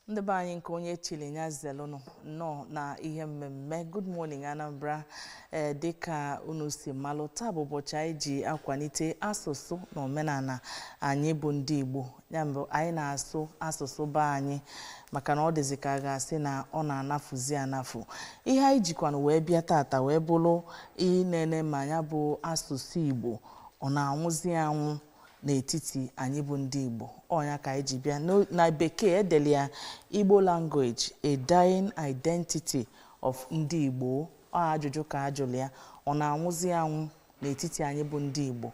ndị be anyị nke onye chili nya zelụnụ nnọọ na ihe mmemme good morning anambra ee dịka unu si malụ taa bụ ụbọchị anyị ji akwanite asụsụ na omenana anyị bụ ndị igbo ya mbụ anyị na-asụ asụsụ be anyị maka na ọ dịzi ka a ga-asị na ọ na-anafuzi anafu ihe anyị jikwanụ wee bịa tata wee bụlụ inene ma nya bụ asụsụ igbo ọ na-anwụzi anwụ n'etiti anyị bụ ndị Igbo ọ nya ka anyị ji bịa na bekee e delụ ya Igbo language a dying identity of ndị Igbo ọ ajụjụ ka a jụlụ ya ọ na-anwụzi anwụ n'etiti anyị bụ ndị Igbo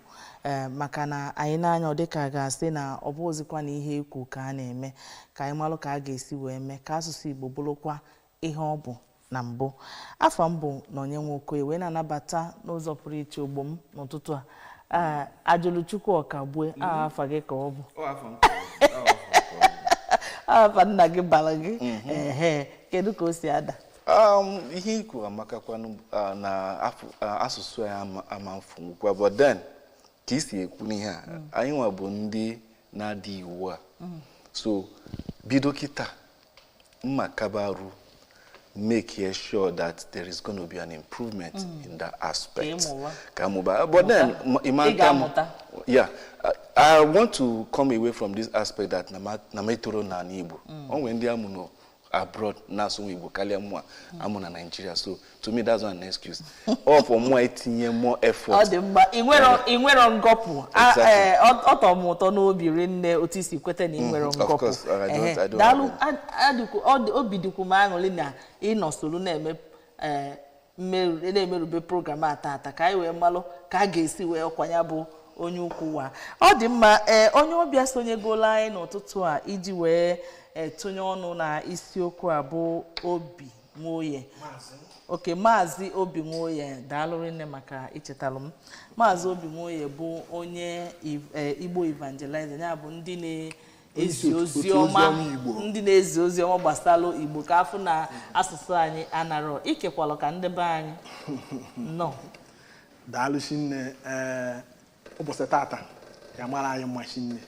eh, maka na anyị nee anya ọ dịka a ga-asị na ọ bụrọzikwa na ihe e kwu ka a na-eme ka anyị malụ ka a ga-esi wee mee ka asụsụ Igbo bụlụkwa ihe ọ bụ na mbụ afa m bụ nonye nwokoye wee na-anabata n'ụzọ pụrụ iche ogbo m n'ụtụtụ a Ee, ajụlụchukwu ọkagbue aha afa gị ka ọ bụ Ọ afa m ka ọ bụ, ọ afa m ka ọ bụ. aha afa nna gị balụ gị ehe kedu ka o si ada Um, ihe i kwuru amakakwanụ uh, na afụ- uh, asụsụ anyị ama- ama mfunwukwa but then ka i si ekwu n'ihe a mm. anyịnwa bụ ndị na-ada iwu a mm. so bido kịta mma kabaru make e sure that there is going to be an improvement mm. in that aspect. Kamuba. But then, Imam, yeah, I, I want to come away from this aspect that na m etoro n'ani Igbo. Mm. E nwe ndị a mụ na abroad na-asụnwu igbo kalịa mụwa a mụ na nigeria so to me that's not an excuse ọ for mụ itinye more effort ọ dị mma ị nwerọ ngọpụ eh, ọ tọ m ụtọ n'obi rinne otu i si kweta na ị nwerọ mm-hmm. ngọpụ uh, daalụ obi dịkwu m aṅụlị na ị nọ solu na-eme eh, mmeru- na-emerube program a tata ka anyị wee malụ ka a ga-esi wee ọkwa ya bụ onye ukwu wa ọ dị mma ee onye ọbịa sonyegola anyị n'ụtụtụ a iji wee ee, tụnye ọnụ na isiokwu a bụ obi nwoye okay maazị obi nwoye daalụ rinne maka ichetalụ m maazị obi nwoye bụ onye Iv- eh, igbo evangelizer ya bụ ndị ezi ozi ọma Igbo ndị na-ezi ozi ọma gbasalụ Igbo ka a fụ na asụsụ anyị anarọ ikekwalụ ka ndị be anyị nọ daalụ shinne ee ụbọchị tata ya-amalụ anyị mma shinne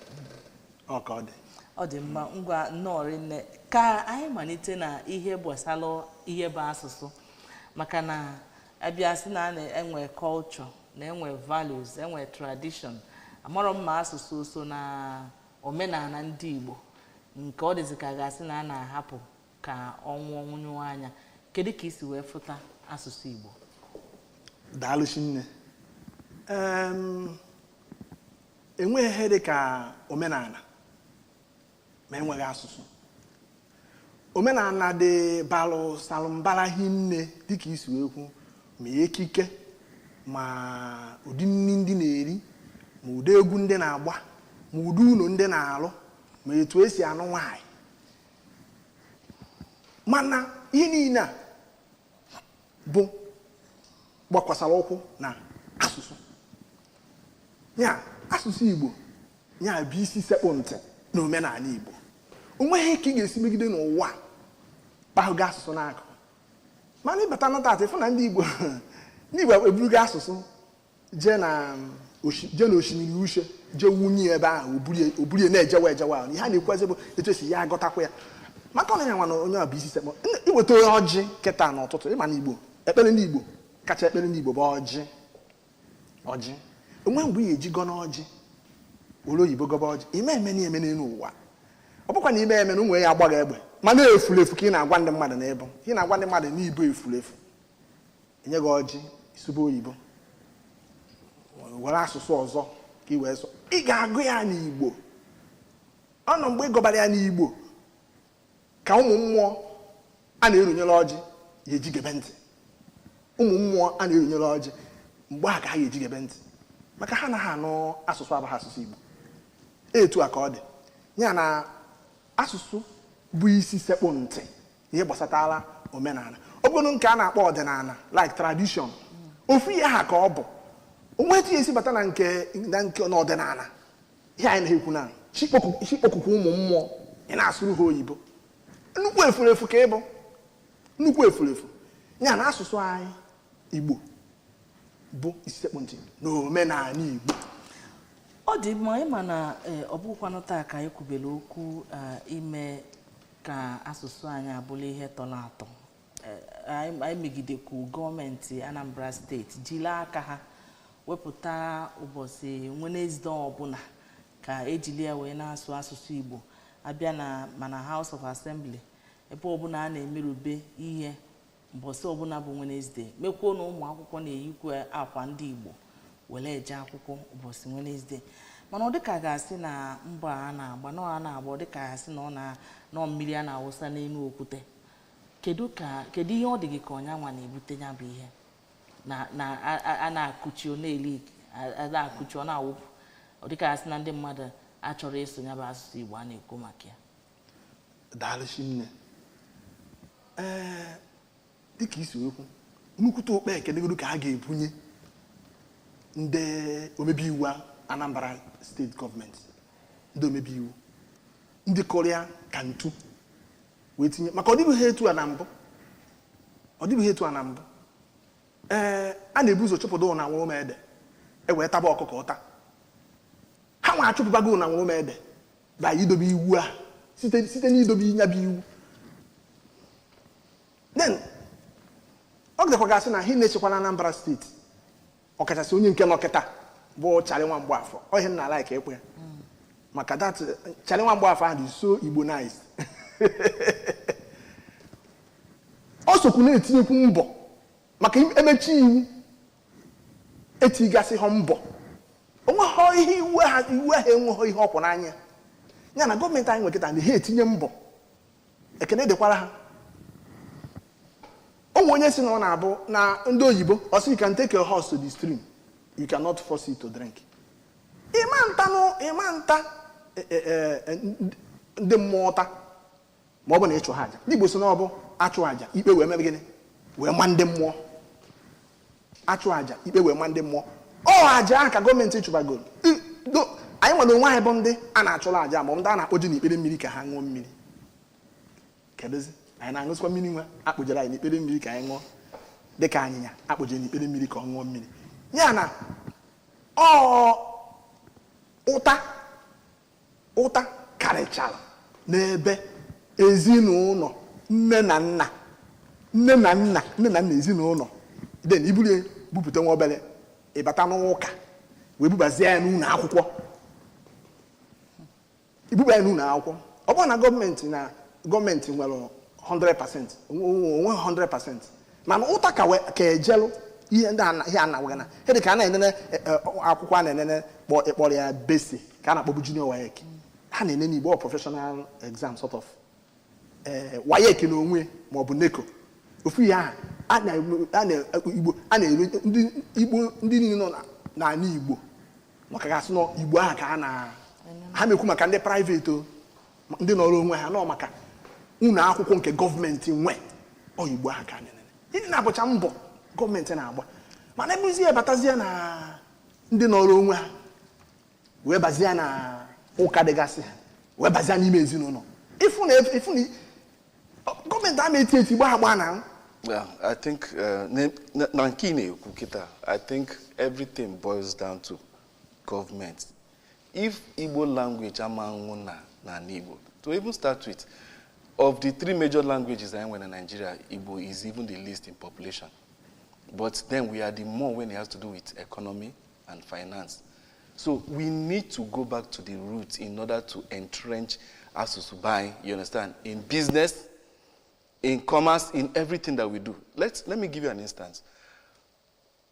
ọ ka ọ dị ọ dị mma ngwa nnọọ rinne ka anyị manite na ihe gbasalụ ihe bụ asụsụ maka na a bịa sị na a na-enwe culture na enwe values enwe tradition amarọ m ma asụsụ o so na omenala ndị Igbo nke ọ dịzị ka a ga-asị na a na-ahapụ ka ọ nwụ ọ nwụnyụọ anya kedu ka i si wee fụta asụsụ Igbo daalụ shinne e nweghị ihe dị ka omenala ma e nweghị asụsụ omenala dị balụ salụ mbara hinne dịka i si wee kwu ma ekike ma ụdị nri ndị na-eri ma ụdị egwu ndị na-agba ma ụdị ụlọ ndị na-alụ ma etu e si anụ nwaanyị mana ihe niile a bụ gbakwasara ụkwụ na asụsụ ya asụsụ Igbo ya bụ isi sekpụ ntị na omenala Igbo o nweghị ka ị ga-esi megide n'ụwa kpahụgo asụsụ n'akụ mana ịbata na taata ịfụ na ndị Igbo ndị Igbo eburugo asụsụ jee na jee na osimiri uhie jee wụnye ebe ahụ oburie na-ejewa ejewa ahụ ihe a na-ekwuzi bụ etu e si ya agọtakwa ya maka ọ nya nwa na ọ nya bụ isi sekpụ i weta onye ọjị kịta n'ụtụtụ ị ma na Igbo ekpere ndị Igbo kacha ekpere ndị Igbo bụ ọjị ọjị o nwee mgbe ị ya-eji gọna ọjị were oyibo gọba ọjị ime eme na eme n'elu ụwa ọ bụkwa na ime eme na ụmụ ya agbaghị egbe mana efulefu ka ị na-agwa ndị mmadụ na ị bụ ị na-agwa ndị mmadụ na ị bụ efulefu e nye gị ọjị ị sụbe oyibo were asụsụ ọzọ ka ị wee sọ ị ga-agọ ya n'igbo ọ bụ mgbe ị gọbara ya n'igbo ka ụmụ mmụọ a na-erunyere ọjị ya-eji gebe ntị ụmụ mmụọ a na-erunyere ọjị mgbe ahụ ka ha ga-eji gebe ntị maka ha anaha anụ asụsụ abụghị asụsụ Igbo etu a ka ọ dị ya na asụsụ bụ isi sekpụ ntị n'ihe gbasatara omenala ọ bụrụ nke a na-akpọ ọdịnala like tradition ofu ihe ahụ ka ọ bụ o nwee etu ị ya-esi bata na nke na nke n'ọdịnala ihe anyị na-ekwu na chi kpọku- chi kpọkukwu ụmụ mmụọ ị na-asụrụ ha oyibo nnukwu efulefu ka ị bụ nnukwu efulefu ya na asụsụ anyị igbo bụ isi sekpụ ntị na omenala igbo ọ dị mma ị ma na eh, ọ bụkwanụ taa ka anyị kwubere okwu eh, ime ka asụsụ anyị a bụrụ ihe tọrọ atọ anyị megidekwu gọọmenti Anambra steeti jiri aka ha wepụta ụbọchị Wenesde ọbụla ka e jili ya wee na-asụ asụsụ Igbo a bịa na ma na House of Assembly ebe ọbụla a na-emerube ihe mbọsị ọbụla bụ Wenesde mekwuo na ụmụ akwụkwọ na-eyikwa akwa ndị Igbo were eje akwụkwọ ụbọchị Wenesde mana ọ dịka a ga-asị na mbọ a na-agba na ọ na-agba ọ dịka a ga-asị na ọ na mmiri a na-awụsa n'elu okwute kedu ka kedu ihe ọ dị gị ka ọ nyanwa na-ebute ya bụ ihe na na a- a- a na-akụchi ọ na-eli a- a na-akụchi ọ na-awụpụ ọ dịka asị na ndị mmadụ achọrọ ịsụ ya bụ asụsụ Igbo a na-ekwu maka ya daalụ shinne ee dịka i si wee kwu nnukwute ụkpa ekene godu ka a ga-ebunye ndị omebe iwu anambra steeti gọọmenti ndị omebe iwu ndị kụrụ ya aka ntu wee tinye maka ọ dịbughị etu a na mbụ ọ dịbughị etu a na mbụ ee a na-ebu ụzọ chụpụta nyanwuruede e wee taba ọkụkọ ụta ha nwa achụpụbago nyanwuruede by idobe iwu a site site n'idobe nya bụ iwu then ọ ga-adịkwa ka asị na ha na-echekwala Anambra steeti ọkachasị onye nke nọ kịta bụ Charlie nwa Mgbafọ ọ ihe m na-alike ịkpọ ya maka that Charlie nwa Mgbafọ ahụ dị so Igbonized o sokwu na-etinyekwu mbọ maka emechi iwu etigasị ha mbọ onweghị ihe iwu ahụ enweghị ihe ọ kwụ n'anya ya na gọọmenti anyị nwe kịta na ha etinye mbọ ekene dịkwara ha o nwe onye sị na ọ na-abụ na ndị oyibo ọ sị you can take your horse to the stream you cannot force it to drink ị ma nta nụ ị ma nta e, e, e, e, ndị- ndị mmụọ ụta ma ọ bụ na ị chụha aja ndị igbo sị na ọ bụ a chụọ aja ikpe wee mebe gịnị wee ma ndị mmụọ a chụọ aja ikpe wee ma ndị mmụọ ọ aja ahụ ka gọọmenti chụbagoro I- do- anyị nwa na onwe anyị bụ ndị a na-achụrụ aja ma ọ bụ ndị a na-akpụje n'ikpere mmiri ka ha ṅụọ mmiri kedụzi anyị na-aṅụzikwa mmiri nwa a kpụjere anyị n'ikpere mmiri ka anyị ṅụọ dị ka anyịnya a kpụjere n'ikpere mmiri ka ọ ṅụọ mmiri ya na ọ ụta ụta karịchara n'ebe ezinụlọ nne na nna nne na nna nne na nna ezinụlọ then i buru ya bupụta nwa obere ịbata n'ụka wee bubazie ya n'ụlọ akwụkwọ i buba ya n'ụlọ akwụkwọ ọ bụrụ na gọọmenti na gọọmenti nwere 100% o nwee 100% mana ụta ka we- ka ejelụ ihe ndị ana- ihe a na-agwa gị na ihe dị ka a na-enene e, e, akwụkwọ a na-enene kpọ ị kpọrọ ya BECE ka a na-akpọbu junior WAEC ha na-enene igbo ọ professional exam sort of eh, WAEC na onwe ma ọ bụ NECO ofu ihe ahụ a na- a na- igbo a na-ene ndị igbo ndị niile nọ na- n'ala igbo maka ga-asị na ọ igbo ahụ ka a na ha na-ekwu maka ndị private o ndị nọrọ onwe ha nọ maka ụlọ akwụkwọ nke gọọmenti nwe oyigbo ahụ ka anyị nene ndị na-abụcha mbọ gọọmenti na-agba mana ebuzi ya batazie na ndị nọrọ onwe ha wee bazie na ụka dịgasị ha wee bazie n'ime ezinụlọ ịfụ na ịfụ na ọ- gọọmenti ama eti eti gbaa agbaa na Well, I think uh, ne- na na nke ị na-ekwu kịta, I think everything boils down to government if Igbo language ama nwụ na n'ala Igbo to even start with of the three major languages anyị nwere na Nigeria Igbo is even the least in population but then we are the more when it has to do with economy and finance so we need to go back to the roots in order to entrench asụsụ be anyị you understand in business in commerce in everything that we do let let me give you an instance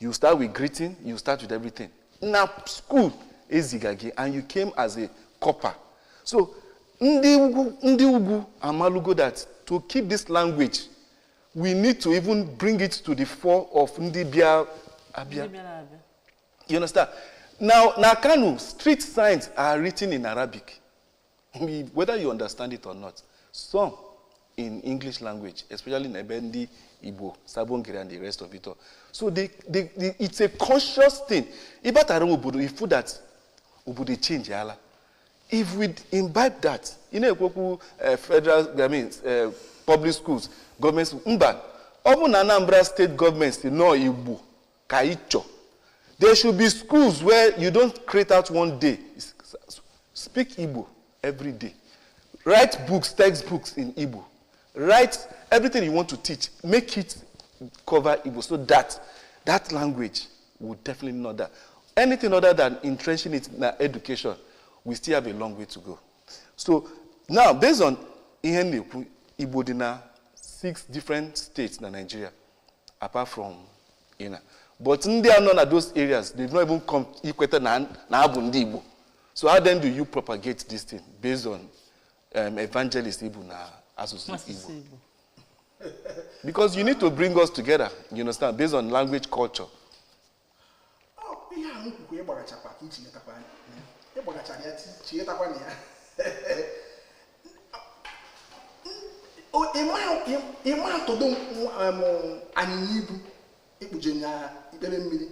you start with greeting you start with everything na school eziga gị and you came as a corper so ndị ugwu ndị ugwu amalugo that to keep this language we need to even bring it to the fore of ndị bịa abịa you understand now na kano street signs are written in arabic whether you understand it or not some in english language especially na ebe ndị igbo Sabon Gari and the rest of it all so they, they, they, it's a conscious thing ị batara ime obodo ị fụ that obodo change ala if we imbibe that ị na-ekwu okwu eh, federal i mean eh, public schools government mba ọ bụ na anambra state government in igbo ka anyị chọ there should be schools where you don't create out one day speak igbo every day write books textbooks in igbo write everything you want to teach make it cover igbo so that that language will definitely not die anything other than entrenching it in education we still have a long way to go so now based on ihe na-ekwu igbo dị na six different states na nigeria apart from you know, but ndị a nọ na those areas they've not even come ikweta na ha bụ ndị Igbo so how then do you propagate this thing based on um, evangelist Igbo na asụsụ Igbo because you need to bring us together you understand based on language culture ihe ahụ kwukwa ịgbagachakwa ka iji metakwa anya ịgbagachara ya chetakwa na ya ịma atụdo anyịnya ibu ị kpụje ya ikpere mmiri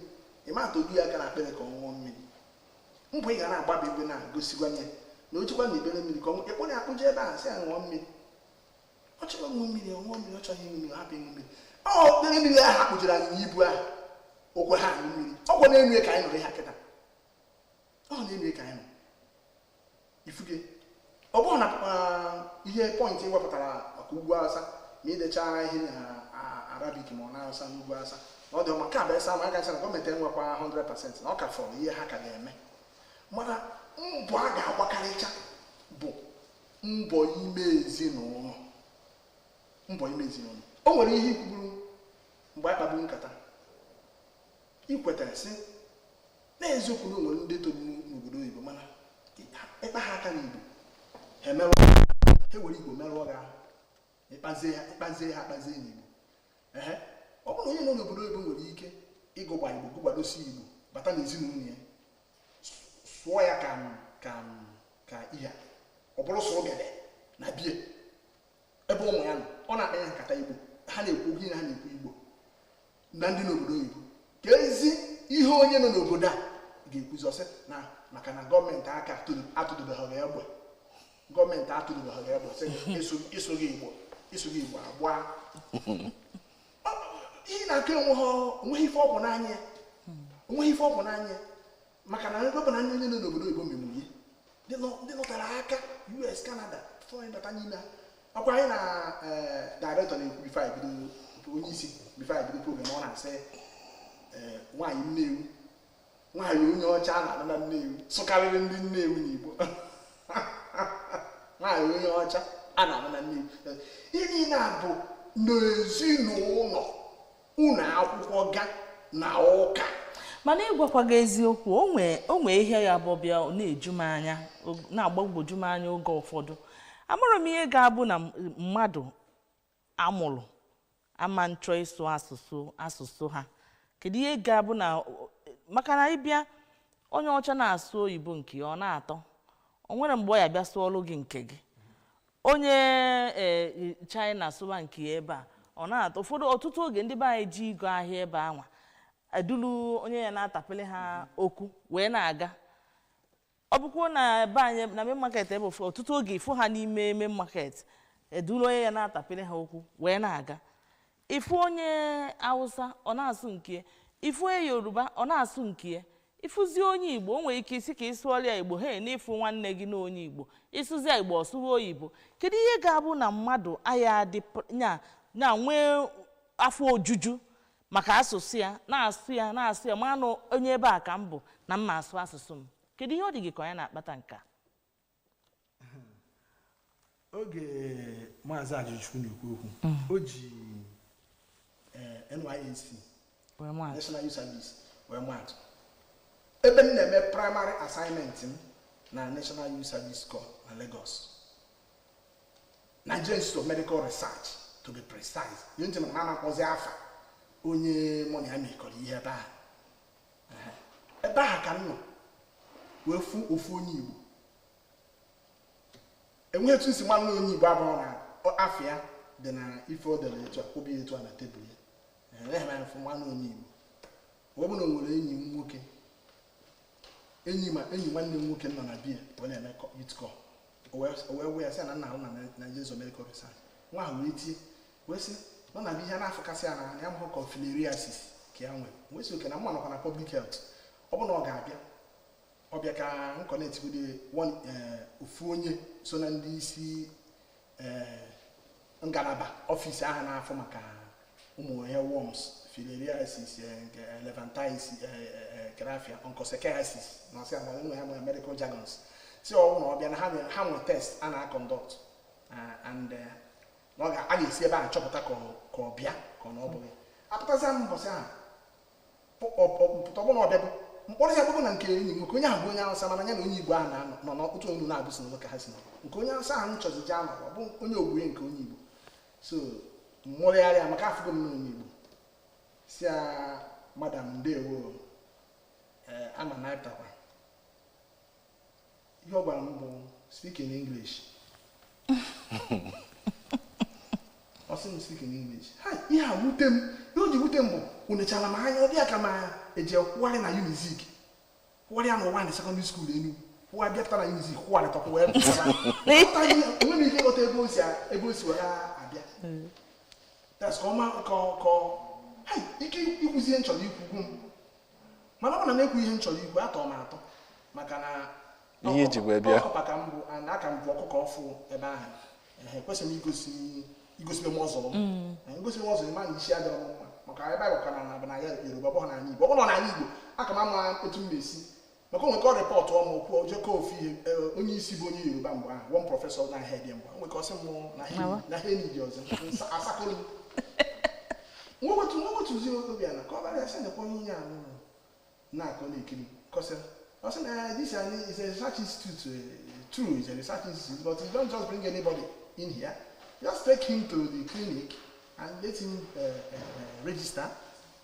ịma atụdo ya aka n'akpịrị ka ọ ṅụọ mmiri mbọ ị ga na-agba bụ ebe na-egosi gwa ya na ọ dịkwa n'ikpere mmiri ka ị kpụrụ ya akpụje ebe ahụ sị ya ṅụọ mmiri ọ chọrọ ịṅụ mmiri ọ ṅụọ mmiri ọ chọghị ịṅụ mmiri hapụ ịṅụ mmiri ikpere mmiri ahụ a kpụjere anyịnya ibu ahụ o kwe ha aṅụ mmiri ọkwa n'enu ya ka anyị nọrọ ha kịta ọ n'enu ya ka anyị nọ ị fụgo ọ bụrụ na ihe point i wepụtara maka ugwu awụsa ma idecha ihe na arabic ma ọ n'awụsa n'ugwu awụsa na ọ dị ọma ka bụ esa ma a gacha na gọọmenti enwekwa 100% na ọ ka fọrọ ihe ha ka ga-eme mana mbọ a ga-agbakarịcha bụ mbọ ime ezinụlọ mbọ ime ezinụlọ o nwere ihe i kwuburu mgbe a kpaburu nkata i kwetara sị n'eziokwu na e nwere ndị toro n'obodo oyibo mana ị kpaa ha aka n'igbo ha emerụ ha were igbo merụọ gị ahụ ịkpazie ha ịkpazie ha akpazie n'igbo ehe ọ bụrụ onye nọ n'obodo oyibo nwere ike ịgụgba igbo gụgbadosi igbo bata n'ezinụlọ ya sụọ ya ka ka ka ihe ọ bụrụ sọ ogede na bie ebe ụmụ ya nọ ọ na-akpa ya nkata igbo ha na-ekwu gị na ha na-ekwu igbo na ndị n'obodo oyibo keezi ihe onye nọ n'obodo a ga-ekwuzi ọ sị na maka na gọọmenti aka atụdobeghị egbe gọọmenti atụdobeghị egbe sị ị sụghị igbo ị sụghị igbo a gbaa ihe ị na-ekwu onweghị ife ọgwụ n'anya ya onweghị ife ọgwụ n'anya ya maka na ọ bụrụ na ndị nọ n'obodo oyibo mmemme ihe ndị nọtara aka us canada fọrọ bata n'ime ha ọ kwa anyị na eh, director na-ekwu before anyị bido onye isi before anyị bido program ọ na-asị eh, nwaanyị nnewi nwaanyị onye ọcha a na-anụ na nnewi sụkarịrị ndị nnewi n'igbo nwaanyị onye ọcha a na-anụ na nnewi ihe niile a bụ n'ezinụlọ ụlọ akwụkwọ ga na ụka mana ịgwakwa gị eziokwu o nwee o nwee ihe ya bụ bịa ọ na-eju m anya o- na-agbagwoju m anya oge ụfọdụ amarọ m ihe ga-abụ na m- mmadụ a mụrụ ama achọ ịsụ asụsụ asụsụ ha kedu ihe ga-abụ na maka na ị bịa onye ọcha na-asụ oyibo nke ya ọ na-atọ o nwere mgbe ọ ya-abịa sụọlụ gị nke gị onye ee china sụwa nke ya ebe a ọ na-atọ ụfọdụ ọtụtụ oge ndị be anyị je ịgo ahịa ebe anwa edulu onye ya na-atapịrị ha okwu wee na-aga ọ bụkwuo na be anyị na main market ebe ụfọdụ ọtụtụ oge ị fụ ha n'ime main market eduru onye ya na-atapịrị ha okwu wee na-aga ị fụ onye awụsa ọ na-asụ nke ya ị fụ onye yoruba ọ na-asụ nke ya ị fụzi onye igbo o nwere ike ị sị ka ị sụọrọ ya igbo he na ị fụ nwanne gị na onye igbo ị sụzi ya igbo ọ sụwa oyibo kedu ihe ga-abụ na mmadụ aya adị pr- nya nya nwee afọ ojuju maka asụsụ ya na-asụ ya na-asụ ya ma na onye ebe a ka m bụ na m ma-asụ asụsụ m kedu ihe ọ dị gị ka ọ nya na-akpata nke a oge maazị Ajụchukwu na-ekwu okwu o ji eh, NYSC were maa atụ National Youth Service wee maa atụ ebe m na-eme primary assignment m na National Youth Service Corps na Lagos Nigerian Institute of Medical Research to be precise ihe nche maka na a na-akpọzi afa onye mụ na ya mekọrọ ihe ebe ahụ Ehe. ebe ahụ ka m nọ wee fụ ofu onye Igbo enweghị etu m si ma na ọ onye Igbo abụrọ na ọ- afa ya dị na ife o dere etu a o bie etu a na tebụl ya enweghị m anya fụ ma na ọ onye Igbo ọ bụrụ na o nwere enyi m nwoke enyi ma enyi nwanne m nwoke nọ na be ya wee na-eme kọ- youth corps o wee o wee wee ya sị ya na m na-arụ na Nigerian Institute of Medical Research nwa ahụ wee tie wee sị na ọ na-abịa ihe a na-afụkasị ya na ya amarọ ka filariasis ka ya nwere wee sị okay na mụ nọkwa na public health ọ bụrụ na ọ ga-abịa ọ bịa ka m kọnektigode na eh, ofu onye so na ndị isi eh, ngalaba ọfịs ahụ na-afụ maka ụmụ ihe worms filariasis eh, nke elephantiasis grafia onchocerciasis na ọsị agwa ụmụ ya nwere medical jargons sị ọ wụ na ọ bịa na ha nwere- ha nwere test a na-akọndọkt and eh, na ọ ga- a ga-esi ebe ahụ chọpụta ka ọ- ka ọ bụ ya ka ọ na ọ bụghị apụtazi m mbọsị ahụ pụta ọ bụ na ọ bịago m kpọrọ ya bụbụ na nke enyi m nwoke onye ahụ bụ onye awụsa mana ya na onye igbo ahụ na-anọ nọ n'otu ọnụ na-abụ si n'ụlọ ka ha si nọ nke onye awụsa ahụ m chọzi je anọ ọ bụ onye ọgbọ ya nke onye igbo so m mụrịgharịa maka afụgo m na onye igbo sị ya madam ndewo ee ama na ị pụtakwa ihe ọ gwara m bụ speak in english ọ sị m speak in english ha ihe a wute m ihe o ji wute m bụ o nechara m anya ọ dị ya ka m anya eji kwụgharị na unizik kwụgharịa na uwani sekọndịrị skuul enugwu kwụwa bịa pụta na unizik kwụgharịta kwụwa ebe enwe m ike ịghọta ebe o si ebe o si were abịa that's ka ọma ka ka ike ikwuzi ihe m chọrọ ikwu gwụ m mana ọ bụ na m ekwu ihe m chọrọ ikwu atọ m atọ maka na ihe m ji wee bịa ọkụkọ ka m bụ and a ka m bụ ọkụkọ ọfụ ebe ahụ ehe ekwesịrọ m igosi igosi m ọzọ m ngosi m ọzọ ma na isi adịrọ m mma maka ebe a bụkwa n'ana yoruba ọ bụghị n'ala igbo ọ bụrụ na n'ala igbo aka m ama etu m na-esi maka o nwee ike rịpọtụọ mụ kwuo jekọ ofu ihe e, onye isi bụ onye yoruba mgbe ahụ one prọfesọ na-ahead mgbe o nwee ike sị mụ na ha enyi dị ọzọ a sị ka m wetu wetuzi obi ala kọwaara ya sị nekwa onye ihe anyị na-akọ na-ekiri kọsịa ọ sị na eh, this is a research institute eh, true is a research institute but you don't just bring anybody in here just take him to the clinic and let him uh, uh, register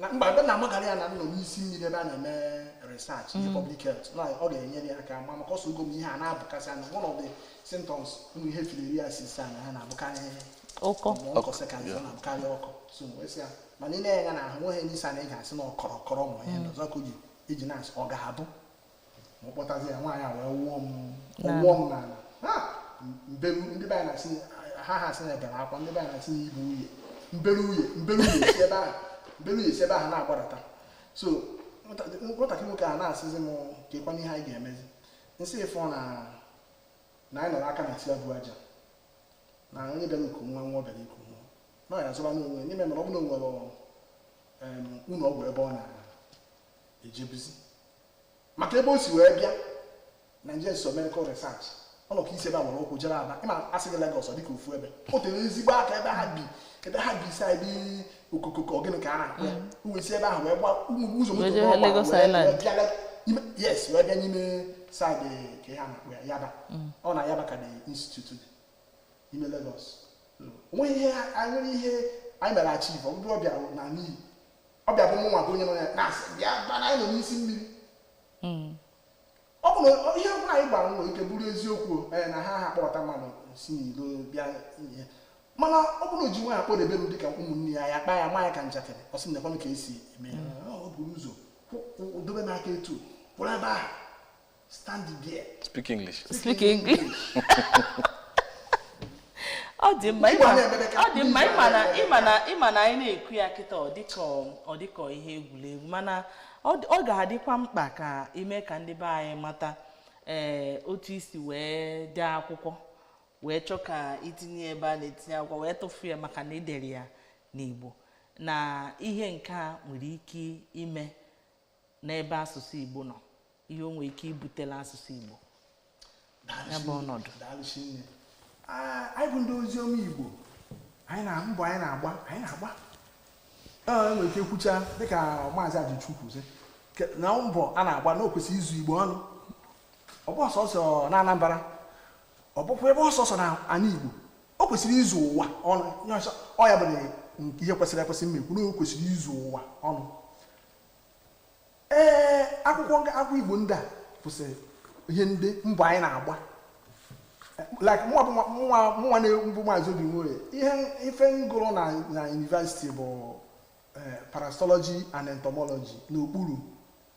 na mba ebe na m agwala ya na m nọ n'isi mmiri ebe a na-eme research in mm. public health na ọ ga-enyere ya aka ma maka ọ sịgo m ihe a na-abụkasị anya one of the symptoms ụmụ ihe filariasis a na ha na-abụkarị ọkọ onchocerca ọ na-abụkarị ọkọ so wee sị ya mana ị na-ene ya n'ahụ nweghị n'isi a na ị ga-asị na ọ kọrọ kọrọ ma ihe mm. ọzọ ka o ji iji na-asị ọ ga-abụ ma ọ kpọtazi ya nwaanyị a wee wụọ m wụọ m n'ala ha mbe ndị be anyị na-asị ha ha asị na gara akwa ndị be anyị na-asị na ibu uye mbere uye mbere uye si ebe ahụ mbere uye si ebe ahụ na-agbadata so nwatakịrị nwoke a na-asịzi m kekwanụ ihe anyị ga-emezi m sị ị fụ na na anyị nọrọ aka na tia bụ aja na onye bịara iku nwa nwa ọ bịara iku nwa na ọ ya zụba n'onwe n'ime mere ọ bụ na o nwere ụlọ ọgwụ ebe ọ na-ejebuzi maka ebe o si wee bịa Nigerian Institute of Medical Research ọ nọ ka isi ebe a gbara ụkwụ jere Aba ịma asị gị Lagos ọ dịka ofu ebe o tere ezigbo aka ebe ha bi ebe ha bi saịdị okokoko ọ gịnị ka a na-akpọ ya o wee si ebe ahụ wee gba ụmụ ụzọ moto Wee jee wee gba- Lagos wee- Island. wee bịa Lag- ime- yes wee bịa n'ime saịdị ka ihe a na-akpọ ya Yaba ọ na Yaba ka the institute dị n'ime Lagos onweghị ihe anyị nwere ihe anyị mere achieve ọ bụrụ ọ bịa naa n'iyi ọ bịa bụ mụnwa bụ onye nọ ya na-asị bịaba na anyị nọ n'isi mmiri hmm. ọ bụ na ihe ọbụla anyị gbara nwere ike bụrụ eziokwu eh, na ha akpọta mmadụ si n'ilo bịa ihe mana ọ bụrụ o ji nwayọ akpọdebe m dịka ụmụnne ya ya kpaa ya maa ya ka njakịrị ọ sị nekwanụ ka esi eme ya hmm. o buru ụzọ dobe n'aka etu kwụrụ ebe ahụ Stand there. Speak English. Speak English. ọ dị mma ịma na ịma na ịma na anyị na-ekwu ya kịta ọ dịka ihe egwuregwu mana ọ ga-adịkwa mkpa ka ime ka ndị be anyị mata ee eh, otu isi wee dee akwụkwọ wee chọọ ka itinye ebe a na-etinye akwụkwọ wee tụfu ya maka na idere ya n'Igbo na ihe nke a nwere ike ime n'ebe asụsụ Igbo nọ ihe o nwere ike ibutela asụsụ Igbo ya bụ ọnọdụ anyị bụ ndị ozi ọma Igbo anyị na mbọ anyị na-agba anyị na-agba enwere ike kwucha dịka maazị Ajụchukwu sị na mbọ a na-agba na o kwesịrị izu Igbo ọnụ ọ bụghọ sọsọ na Anambra ọ bụkwa ebe sọsọ na ana Igbo o kwesịrị izu ụwa ọnụ ọ ya bụ ihe kwesịrị ekwesị m na-ekwu na o kwesịrị izu ụwa ọnụ ee akwụkwọ akwụkwọ igbo ndị a kwụsịrị ihe ndị mbọ anyị na-agba like mụnwa bụ mụnwa mụnwa nwa bụ maazị Obi Nwoye ihe ife m gụrụ na na yunivesiti bụ eh, parasitọlọji and entomology n'okpuru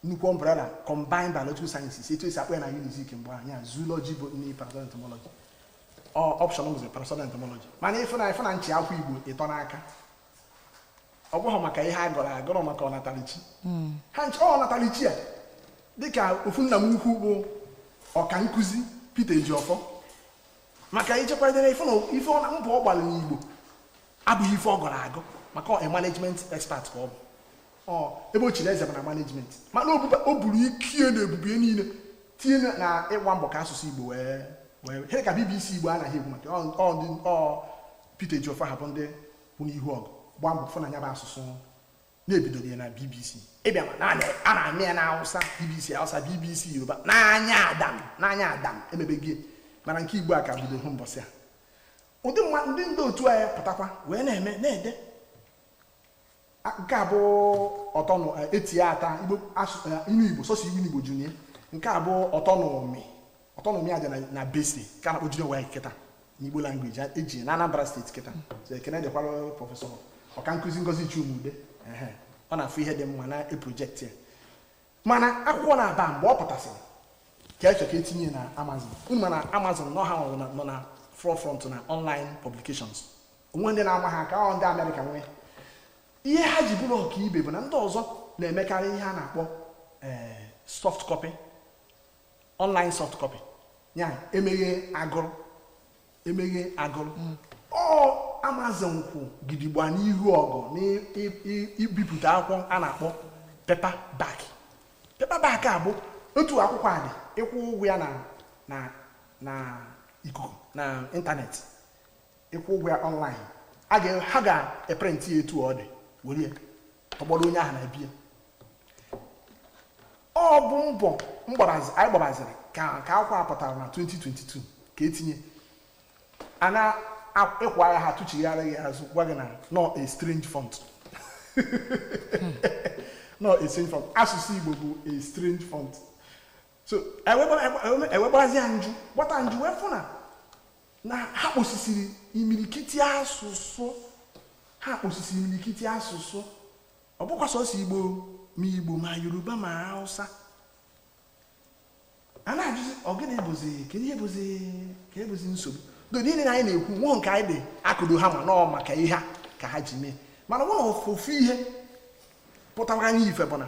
nnukwu umbrella combined biological sciences etu esi akpọ ya na unizik mgbe anyị a zoology bụ nne parasitọlọji entomology ọ option bụzi parasitọlọji entomology mana ịfụ na ịfụ na m chi akwụkwọ igbo ịtọ n'aka ọ bụghị maka ihe a gụrụ agụ ọ maka ọnatalichi hmm. ha ncha ọ ọnatalichi a dịka ofu nna m ukwu bụ ọka nkụzi Peter Ejiọfọ maka ichekwadere ife na mbọ ọ gbara n'Igbo abụghị ife ọ gụrụ agụ maka management expert ka ọ bụ ebe o chiri eze bụ na management mana o buru ikike na ebube niile tinye na ịgba mbọ ka asụsụ igbo wee wee ihe ka bbc igbo a na-ekwu maka ọ Peter Ejiofor ha bụ ndị kwụ n'ihu ọgụ gbaa mbọ fụ na ya bụ asụsụ na e bidoro ya na bbc ịbịa ma naanị a na-anụ ya na awụsa bbc awụsa bbc yoruba n'anya adam n'anya adam emebeghị mana nke igbo a ka bido hụ mbọsị a ụdị mma ndị ndị otu anyị pụtakwa wee na-eme na-ede nke a bụ ọtọnụ eh, etie ata igbo eh, inu igbo sọsọ igbo junie nke a bụ ọtọnụmi ọtọnụmi aja na bece ka a na-akpọ junior waec kịta n'igbo language eji na anambra steeti kịta so ekene dịkwara prọfesọ ọka nkụzi ngozi chuma-udeh ọ na-afụ ihe dị mma na project ya mana akwụkwọ naabọ a mgbe ọ pụtasịrị ka eche ka etinye na amazon unu ma na amazon nọ ha nọ na forefront na online publications o nwe ndị na-ama ha aka ọ ndị amerịka nwe ihe ha ji bụrụ ọkaibe bụ na ndị ọzọ na-emekarị ihe a na-akpọ eh, soft copy online soft copy ya emeghe a gụrụ emeghe a gụrụ hmm. ọ amazon kwụ gidigba n'ihu ọgụ n'ibipụta akwụkwọ a na-akpọ paperback paperback a bụ otu akwụkwọ a dị ị kwụọ ụgwọ ya na na na ikuku na ịntanetị ị kwụọ ụgwọ ya online ha ga-eprintị ya etu ọ dị were tọgbọrọ onye ahụ na be ya ọ bụ mbọ anyị gbabaziri ka akwụkwọ a pụtara na 2022 ka etinye a na-ịkwa ya ha tụchigharị ya azụ gwa gị na ọ a strange font na ọ a strange font asụsụ Igbo bụ a strange font so e wee gbazie ya njụ gbata njụ wee fụ na na ha kposisiri imirikiti asụsụ ha kposisiri imirikiti asụsụ ọ bụkwa sọsọ igbo ma igbo ma yoruba ma hausa a na-ajụzi ọ gịnị bụzi kedu ihe bụzi ka ebụzi nsogbu do niile na anyị na-ekwu nwụọ nke anyị dị akụdo ha ma na ọ maka ihe a ka ha ji mee mana ọ bụrụ na ofu ihe pụtara anyị ife bụ na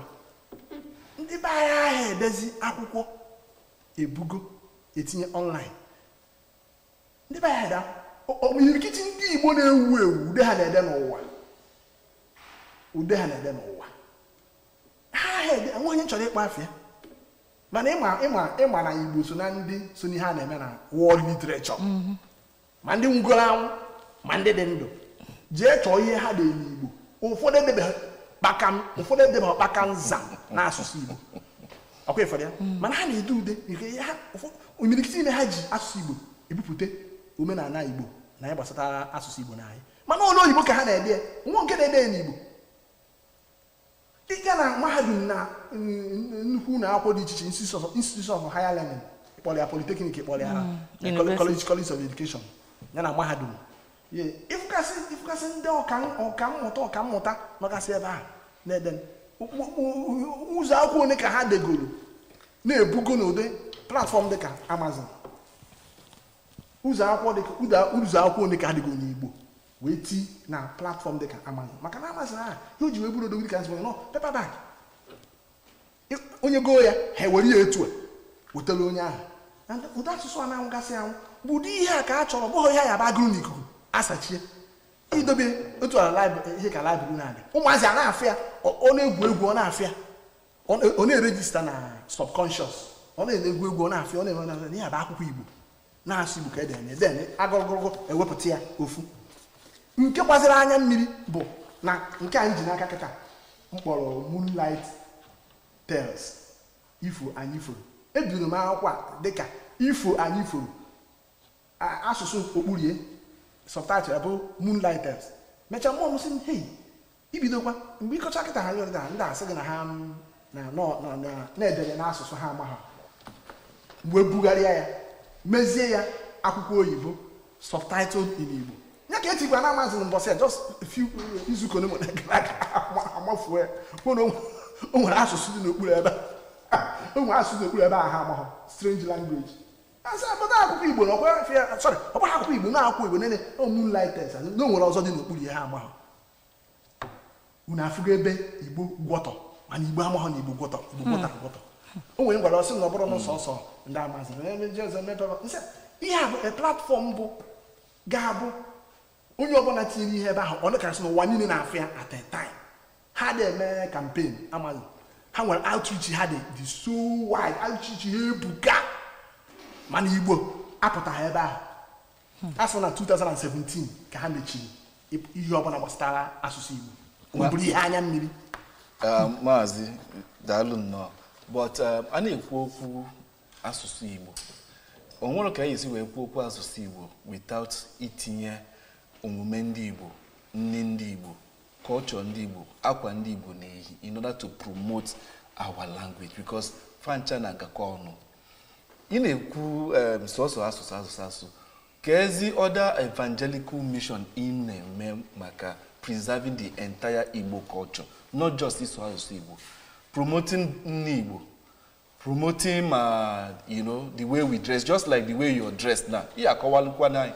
ndị be anyị aha edezi akwụkwọ ebugo etinye online ndị be anyị imirikiti ndị Igbo na-ewu ewu ude ha na-ede n'ụwa ude ha na-ede n'ụwa ha ede enwe onye chọrọ ịkpọ afa ya mana ị ma ị ma ị ma na Igbo so na ndị so n'ihe a na-eme na world literature mm-hmm. ma ndị nwụgoro anwụ ma ndị dị ndụ jee chọọ ihe ha dere n'Igbo ụfọdụ edebeghị kpaka ụfọdụ edebeghị kpaka nza n'asụsụ Igbo ọkwa ị fụrụ ya hmm. mana ha na-ede ude imirikiti ime ha ji asụsụ igbo ebupụta omenala igbo na ihe gbasara asụsụ igbo na anyị mana olu oyibo ka ha na-ede ya o nwe nke na-ede ya n'igbo ị gaa na mahadum na mm, nnukwu ụlọ akwụkwọ dị iche iche institution of higher learning kpọrọ ya polytechnic kpọrọ ya hmm. college college of education ya na mahadum ịfụgasị ndị ọka mmụta ọka mmụta nọgasị ebe a na-ede ụzọ akwụkwọ ole ka ha degoro na-ebugo n'ụdị platform dịka amazon ụzọ akwụkwọ dịka ụzọ akwụkwọ ole ka ha degoro n'igbo wee ti na platform dịka amazon maka na amazon a ihe o ji wee bụrụ odogwu dịka asị na paperback onye goo ya ha ewere ya etu a wetara onye ahụ ụdị asụsụ a na-anwụgasị anwụ bụ ụdị ihe a ka a chọrọ bụghị ihe a ya-abụ a gụrụ n'ikuku asachie idobe otu ala ihe ka library na-adị ụmụazị a na-afụ ya ọ na-egwu egwu ọ na-afụ ya ọ na-erejista na subconscious ọ na-egwu egwu ọ na-afụ ya ọ na-eme na ihe a bụ akwụkwọ Igbo na-asụ igbo ka ede enye then a gụrụ gụrụ gụọ ewepụta ya ofu nke gbaziri anya mmiri bụ na nke anyị ji n'aka kịta m kpọrọ moonlight tales ifo anyị foro ebidoro m akwụkwọ a dịka ifo anyị foro asụsụ okpuru ya subtitle bụ moonlight tales mechaa mmụọ m sị m hei ibidokwa mgbe ị kọcha kịta ha nyere na ndị asị gị na ha mm, na- nọ- na- na- na-edere n'asụsụ ha amaghị m wee bugharịa ya mezie ya akwụkwọ oyibo subtitled in igbo ya ka etikwa na amazon mbọsị ya just a few izuụka ole nwere gara aga ama- amazon ya kwuo na o nwe- o nwere asụsụ dị n'okpuru ebe a. o nwere asụsụ dị n'okpuru ebe ahụ ha amaghị strange language asị ha but akwụkwọ igbo na ọkwa afịa sorry ọkwa akwụkwọ igbo na akwụkwọ igbo nene o moonlight tales na o nwere ọzọ dị n'okpuru ya ha amaghị unu afụgo ebe igbo gwọtọ mana igbo amaghọ na igbo gwọtọ igbo gwọtọ hmm. gwọtọ o nwere m gwara ọ sị na ọ bụrụ na sọsọ ndị amazon ihe a bụ e platform bụ ga-abụ onye ọbụla tinyere ihe ebe ahụ ọ dịkarịsị n'ụwa niile na-afụ ya at a time ha dị eme campaign amazon ha nwere outreach ha dị dị so wide outreach ha ebuka mana igbo apụtaghị ebe ahụ hmm. asị na 2017 ka ha mechiri ihe ọbụla gbasara asụsụ Igbo ọ bụrụ ihe anya mmiri ah, maazị daalụ nnọọ but ah, a na-ekwu okwu asụsụ Igbo o nwere ka anyị esi wee kwuo okwu asụsụ Igbo without itinye omume ndị Igbo nni ndị Igbo culture ndị Igbo akwa ndị Igbo na-eyi in order to promote our language because fa ncha na-agakọ ọnụ ị na-ekwu em, sọsọ asụsụ asụsụ asụsụ kezi other evangelical mission ị na-eme maka preserving the entire igbo culture not just ịsụ asụsụ igbo promoting nni igbo promoting ma you know the way we dress just like the way you're dressed now ị ya-akọwalụkwa anyị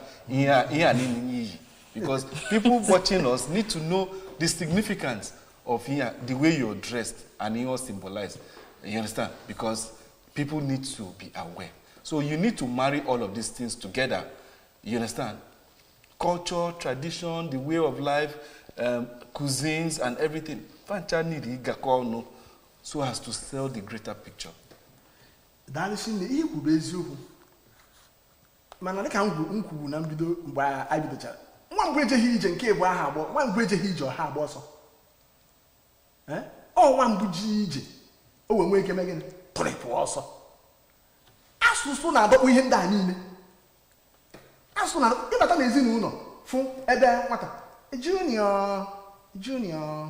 ihe a niile i yi because people watching us need to know the significance of ihe the way you're dressed and ihe o symbolize you understand because people need to be aware so you need to marry all of these things together you understand culture tradition the way of life um, cuisines and everything fancha need ịgakọ ọnụ so as to sell the greater picture daalụ chinne ihe kwuru eziokwu mana dịka m kwuru na mbido mgbe a bidochara nwa mgbe ejeghị ije nke ịbụ aha agbọ nwa mgbe ejeghị ije ọ ha agba ọsọ ọ nwa mbụ jee ije o wee nwee ike mee gịnị tụrịpụ ọsọ asụsụ na-adọkpụ ihe ndị a niile asụsụ na ịbata na ezinụlọ fụ ebe nwata junior junior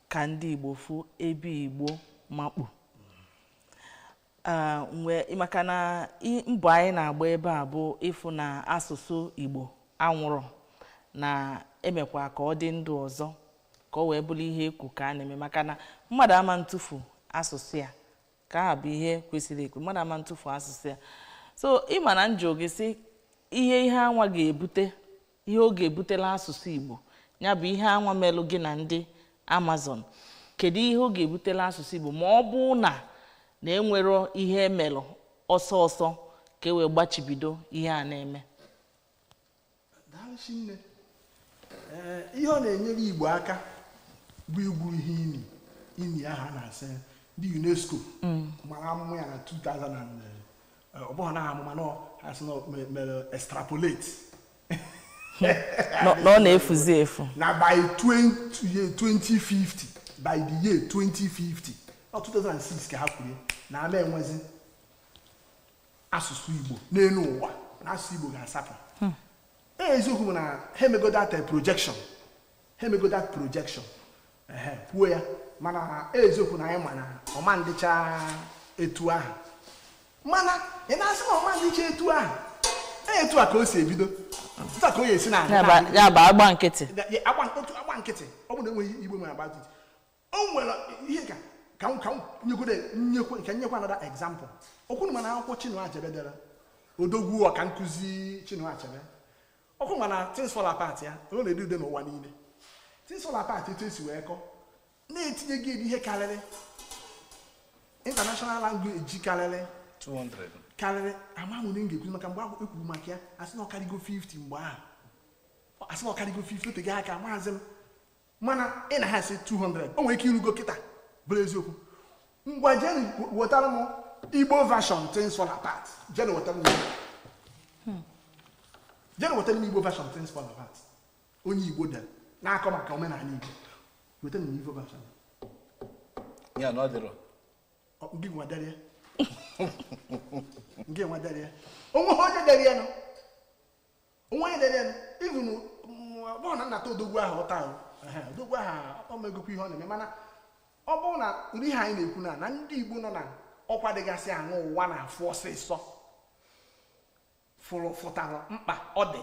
ka ndị igbo fụ ebe igbo makpu Ah, mgbe maka na i- mbọ anyị na-agba ebe a bụ ịfụ na asụsụ igbo anwụrọ na e mekwa ka ọ dị ndụ ọzọ ka ọ wee bụrụ ihe ekwu ka a na-eme maka na mmadụ ama ntụfu asụsụ ya nke ahụ bụ ihe kwesịrị ekwu mmadụ ama ntụfu asụsụ ya so ị ma na m jụọ gị sị ihe ihe anwa ga-ebute ihe ọ ga-ebutela asụsụ Igbo ya bụ ihe anwa melụ gị na ndị Amazon kedu ihe ọ ga-ebutela asụsụ Igbo ma ọ bụrụ na enwerọ ihe e melụ ọsọ ọsọ ka e wee gbachibido ihe a na-eme daalụ nne ihe ọ na-enyere Igbo aka bụ igwu ihe ini ini ahụ a na-asị ndị UNESCO mm. mara amụma ya na 2000 ọ bụghị na amụma na ha sị na mere extrapolate na ọ na-efuzi efu na by 2050 by the year 2050 na 2006 ka ha kwuru na ama enwezi asụsụ Igbo n'elu ụwa na asụsụ Igbo ga-asapụ hmm. e, eziokwu bụ na ha emego that projection ha emego that projection ha ekwuo ya mana eziokwu na anyị ma na ọ ma ndịcha etu ahụ mana ị na-asị na ọ ma ndịcha etu ahụ e, etu a ka o si ebido etu a ka ọ ya esi naa ya bụ agba nkịtị agba nkịtị ọ bụ na enweghị Igbo nwere agba nkịtị o nwere ihe ka ka m ka m nyegode nyekwe nke nyekwa another example ọ kwa ị ma na akwụkwọ Chinua Achebe dere odogwu ọkankụzi Chinua Achebe ọ kwa ị ma na things fall apart ya ọ na-ede ude n'ụwa niile things fall apart etu e si wee kọ na etinyego ya ihe karịrị international language karịrị 200 karịrị amahụ m one m ga-ekwu maka mgbe ahụ ekwuru maka ya a sị na ọ karịgo 50 mgbe ahụ a sị na ọ karịgo 50 o tego aka maazị m mana ị na-asị 200 o nwere ike irugo kịta bụrụ eziokwu ngwa jeenụ wetara m igbo version things fall apart jeenụ wetara m hmm. jeenụ wetara m igbo version things fall apart onye igbo dere na-akọ maka omenala igbo wetara m igbo version ya na ọ dịrọ gị nwa dere ya gị nwa dere ya o nweghị onye dere ya no onwe onye na-enye even bụrụ na nnata odogwu ahụ ụta ahụ odogwu ahụ o megokwa ihe ọ na-eme mana ọ bụrụ na ụdị ihe anyị na-ekwu na na ndị Igbo nọ na ọkwa dịgasị enu ụwa na-afụ ọsịsọ fụrụ fụtara mkpa ọ dị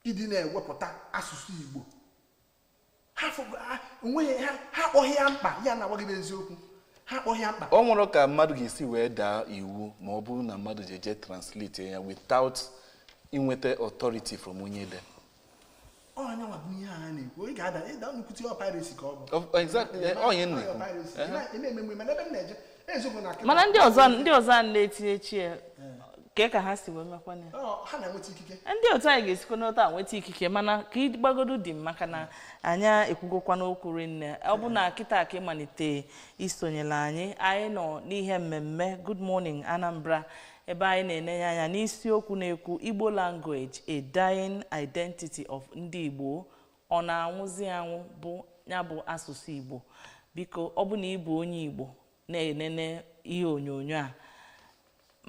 ịdị na-ewepụta asụsụ Igbo ha akpọghị ya mkpa ya na-agwa gị eziokwu ha akpọghị ya mkpa o nwere ka mmadụ ga-esi wee daa iwu ma ọ bụrụ na mmadụ ji eje translate ya without inweta authority from onye de onye nwa bụ ihe a na-ekwu ị ga-ada ịda nnukwute ọ piracy ka ọ bụ exactly onye na-ekwu eme ememe mana ebe m na-eje eziokwu na mana ndị ọzọ ndị ọzọ a na-etinyecha kee ka ha si wee mekwana ya Ọ, ha na-enweta ikike ndị otu anyị ga-esikwanụ otu a nweta ikike mana ka ị gbagodo dim maka na anyị ekwugokwanụ okwu rinne ọ bụ na kịta ka ị malite isonyela anyị anyị nọ n'ihe mmemme good morning anambra ebe anyị na-enenye anya n'isiokwu na-ekwu igbo language a dying identity of ndị igbo ọ na-anwụzi anwụ bụ ya bụ asụsụ Igbo biko ọ bụ na ị bụ onye Igbo na-enene ihe onyonyo a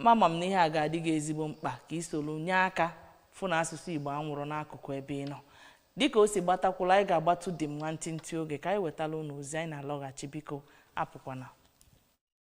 mama m na ihe a ga-adị gị ezigbo mkpa ka i solu nye aka fụ na asụsụ Igbo anwụrọ n'akụkụ ebe ị nọ dịka o si gbata kwụlụ anyị ga-agbatu dim nwantịntị oge ka anyị wetala ụnụ ozi anyị na-alọghachi biko apụkwana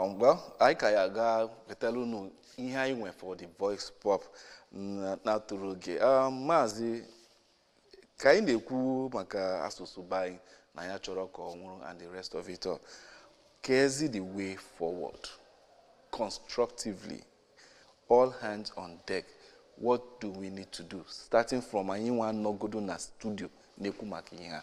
Um, well anyị ka ya ga wetara unu ihe anyị nwe for the voice pop na-atụrụ oge um, maazị ka anyị na-ekwu maka asụsụ be anyị na anyị achọrọ ka ọ nwụrụ and the rest of it all keezi the way forward constructively all hands on deck what do we need to do starting from anyị nwa nọgodo na studio na-ekwu maka ihe a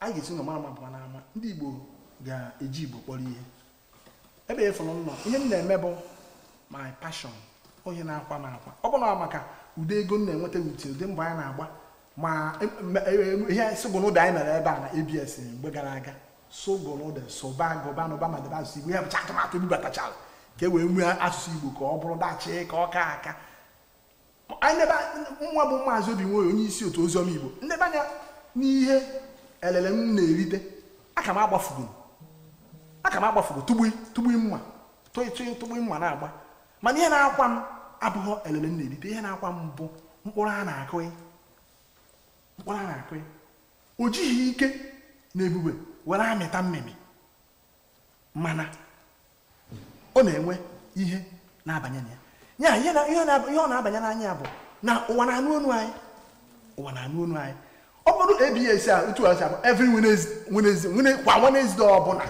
a ga-esi n'ụlọ mara mma pụwa n'ama ndị igbo ga-eji igbo kpọrọ ihe ebe a fụrụ nnọọ ihe m na-eme bụ my passion ọ ihe na-akwa m akwa ọ bụ na maka ụdị ego m na-enweta with ụdị mbọ anyị na-agba ma ihe sụgụnụde anyị mere ebe a na abs mgbe gara aga sụgụnụde sụba gụba nụba ma debe asụsụ igbo ya bụcha atụmatụ e bubatachara ka e wee mee asụsụ igbo ka ọ bụrụ dachị ka ọ ka aka nwa bụ maazị obi nwoye onye isi otu oziọma igbo m neba anya n'ihe elele m na-erite aka m agbafugo aka m agbafugo tụgbui tụgbui mma tụtụi tụgbui mma na-agba mana ihe na-akwa m abụghị elele m na-erite ihe na-akwa m bụ mkpụrụ a na-akụ mkpụrụ a na-akụ o jighị ike na ebube were amịta mmịmị mana ọ na-enwe ihe na-abanye na ya ihe ọ na-abanye n'anya ya bụ na ụwa na-anụ onu anyị ụwa na-anụ onu anyị ọ bụrụ ABS a otu a si abụ every Wednesday kwa Wednesday ọbụla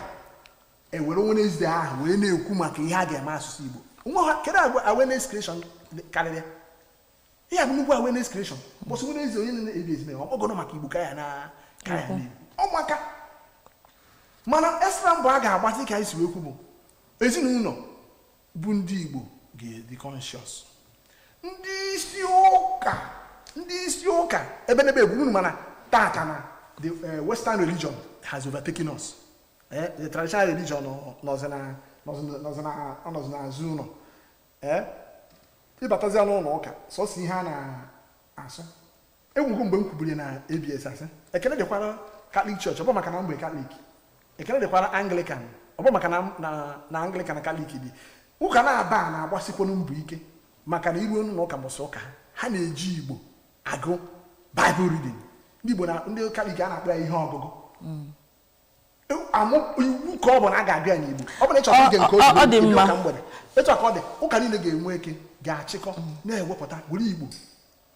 e were Wednesday ahụ wee na-ekwu maka ihe a ga-eme asụsụ Igbo nwa ha kedu awareness creation karịrị ihe a bụ nnukwu awareness creation mbọsị Wednesday niile na ABS e mee program maka igbo ka ya na ka ya na-ebi ọ maka mana extra mbọ a ga-agba dịka anyị si wee kwu bụ ezinụlọ bụ ndị igbo ga-adị conscious ndị isi ụka ndị isi ụka ebe n'ebe egwu unu ma na taata na the eh, western religion has overtaken us Eh, the traditional religion nọ- nọzi na- nọzi na- nọzi na- ọ nọzi n'azụ ụlọ ee ị batazia n'ụlọ ụka sọsọ ihe a na-asụ e nwego mgbe m kwuburu na ABS sị ekele dịkwara Catholic Church ọ bụ maka na m bụ Catholic ekele dịkwara Anglican ọ bụ maka na Anglican na Catholic bụ ụka naabọ a na-agbasikwanụ mbọ ike maka na i ruo n'ụlọ ụka mbọsị ụka ha na-eji igbo agụ Bible reading ndị igbo na ndị Catholic a na-akpọ ya ihe ọgụgụ mm. amụ iwu ka ọ bụ na a ga-agụ ya n'igbo ọ bụ na ị chọrọ ige nke ọ dị mma ụka mgbede etu a ka ọ dị ụka niile ga-enwe ike ga-achịkọ na-ewepụta were igbo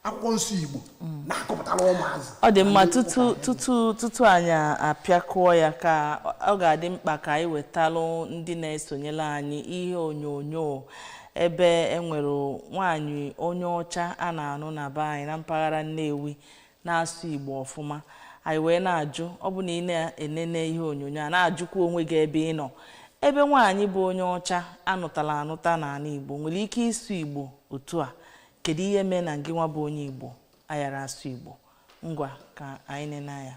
akwụkwọ nsọ igbo na-akọpụtara ụmụazị ọ dị mma tutu tutu tutu anyị apịakọọ ya ka ọ ga-adị mkpa ka anyị wetalụ ndị na-esonyere anyị ihe onyonyo ebe e nwere nwaanyị onye ọcha a na-anụ na be anyị na mpaghara Nnewi na-asụ igbo ọfụma anyị wee na-ajụ ọ bụ na ị na-enene ihe onyonyo a na-ajụkwa onwe gị ebe ị nọ ebe nwaanyị bụ onye ọcha a nụtala anụta n'ala igbo nwere ike ịsụ igbo otu a kedu ihe mee na gị nwa bụ onye igbo ayara asụ igbo ngwa ka anyị nene ya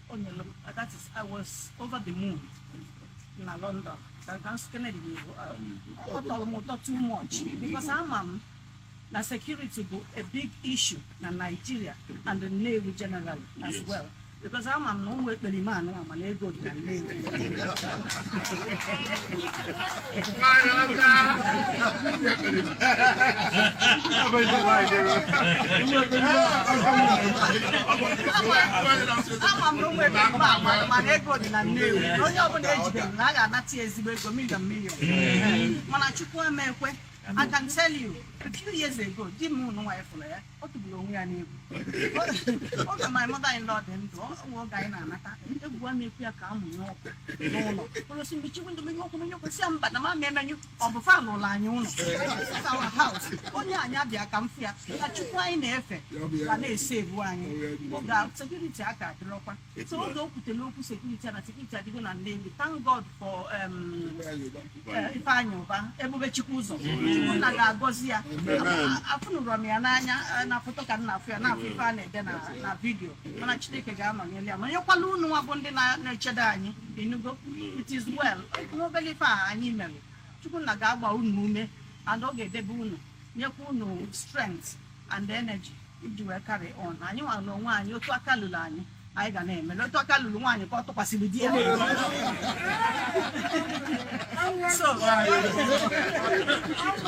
o nyere m uh, that is I was over the moon na London ka ka nsụ Kennedy na-ebu ọ tọrọ m ụtọ too much because ama m na security bụ a big issue na Nigeria and the Nnewi generally as well because ama m na ụmụ ekperima anụ ama na ego dị na Nnewi ama m na ụmụ ebe mba agbara ma na ego dị na nnewi na onye ọbụla e jide na a ga-anata ya ezigbo ego million million mana chukwu ama ekwe I can tell you, a few years ago, di m nwa ya fụrụ ya ọ tụgburu onwe ya n'egwu oge my mother in law dị ndụ ọ nwe oge anyị na-anata egwu a na-ekwu ya ka a mụnye ọkụ n'ụlọ ọ sị mechie window menyụ ọkụ menyụ ọkụ m sị ya mba na m ama emenyụ ọ bụ fa nwe ụlọ anyị ụlọ This is our house. onye a ya bịa ka m fụ ya ka chukwu anyị na-efe ga na-e-save anyị oge a, security a ka adịrọkwa Etu so a. oge o kwutere okwu security a na security adịgo na Nnewi thank God for um, eh, Ifeanyị Ụba Ebube Chukwu Ụzọ Chukwu nna ga-agọzi ya Amen. afụnụrọ m ya n'anya eh, na foto ka m na-afụ ya na-afụ ife a na-ede na na video mana Chineke ga-anọnyere ya ma nyekwala unu nwa bụ ndị na- na-echedo anyị ị nụgo it is well nwa obere ife a anyị mere Chukwu nna ga-agba unu ume and ọ ga-edebe unu nyekwa unu strength and energy iji wee carry on anyị nwa n'onwe anyị otu aka lulu anyị anyị ga na-eme na otu aka lulu nwaanyị ka ọ tụkwasịrị di ya so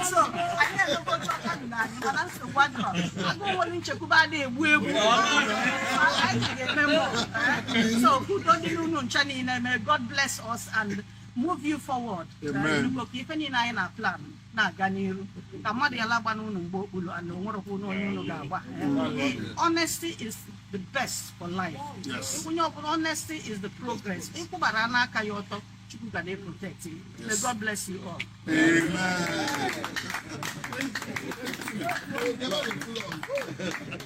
so anyị elugo otu aka lulu anyị mana nsogbu adịrọ agụụ nwere nchekwube ada egbu egbu anyị ga-eme more eh? so udo dịrị unu ncha niile may God bless us and move you forward Amen. Eh, nnukwu ka ife niile anyị na plan na-aga n'iru ka mmadụ yala ịgba unu mgba okpuru and o nwerọkwanụ onye unu ga-agba honesty is the best for life Yes. onye ọbụla honesty is the progress ị kwụbara n'aka ya ọtọ Chukwu ga na-eprotect you may God bless you all Amen.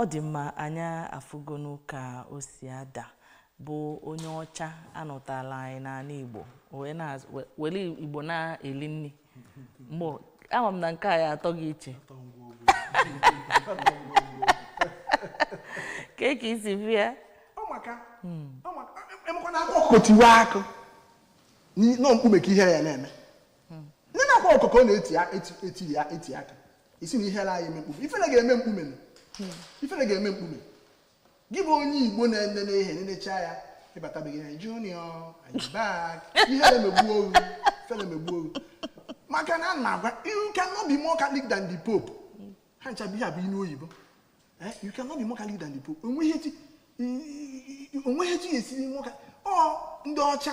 ọ dị mma anyị afụgonu ka o si ada bụ onye ọcha anọtala anya n'ala Igbo wee na- we- were Igbo na-eli nri mụ ama m na nke a ya atọ gị iche ka e ka isi bịa akwa ọkụkọ tiwe akụ na ọ mkpume ka ihere ya na-eme ndị na akwa ọkụkọ na-eti ya eti akụ ị sị na ihere anaghị eme mkpume ifere ga-eme mkpume ifere ga-eme mkpume gị bụ onye Igbo na-enene ihe nenecha ya ịbatabeghị na junior back ihe na-emegbu oru ifele emegbu oru maka na a na-agwa you cannot be more catholic than the pope ha ncha bụ ihe a bụ inu oyibo eh, you cannot be more catholic than the pope o nweghị etu o nweghị etu ya esiri nwoke ọ ndị ọcha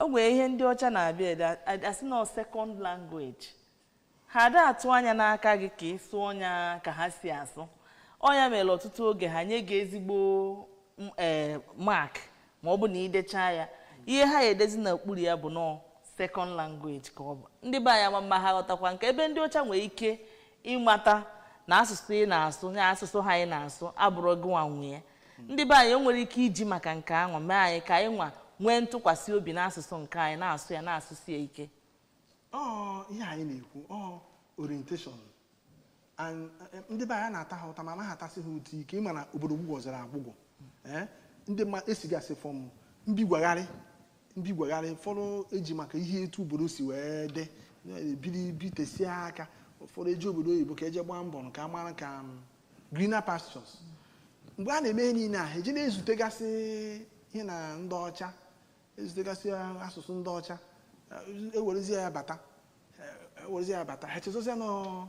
o nwere ihe ndị ọcha na-abịa ede a- a sị na second language ha ada atụ anya n'aka gị ka ị sụọ ya ka ha si asụ ọ nya mere ọtụtụ oge ha nye gị ezigbo m- ee, mark ma ọ bụ na i dechaa ya ihe ha ya-edezi n'okpuru ya bụ na ọ second language ka ọ bụ ndị be anyị ama m ma ha ghọtakwa nke a ebe ndị ọcha nwere ike ịmata na asụsụ ị na-asụ ya asụsụ ha ị na-asụ abụrọ gị nwa nwe ya ndị be anyị e nwere ike iji maka nke ahụ mee anyị ka anyị nwa nwee ntụkwasị obi n'asụsụ nke anyị na-asụ ya na-asụsi ya ike ọ ihe anyị na-ekwu ọ orientation And, eh, ndị be anyị na-ata ha ụta ma anaghị atasị ha ụta ike ị ma na obodo gwụgwọziri agwụgwọ Eh, ndị mmadụ esigasị fọm mbigwagharị mbigwagharị ụfọdụ eji maka ihe etu obodo si wee dị eh, biri bitesie aka ụfọdụ eje obodo oyibo ka e jee gbaa mbọ ka a mara ka mm, greener pastures mgbe a na-eme ihe niile a ha eji na-ezutegasị ihe na ndị ọcha ezutegasị asụsụ ndị ọcha eh, ewerezie ya bata eh, ewerezie ya bata ha chezozia na ọ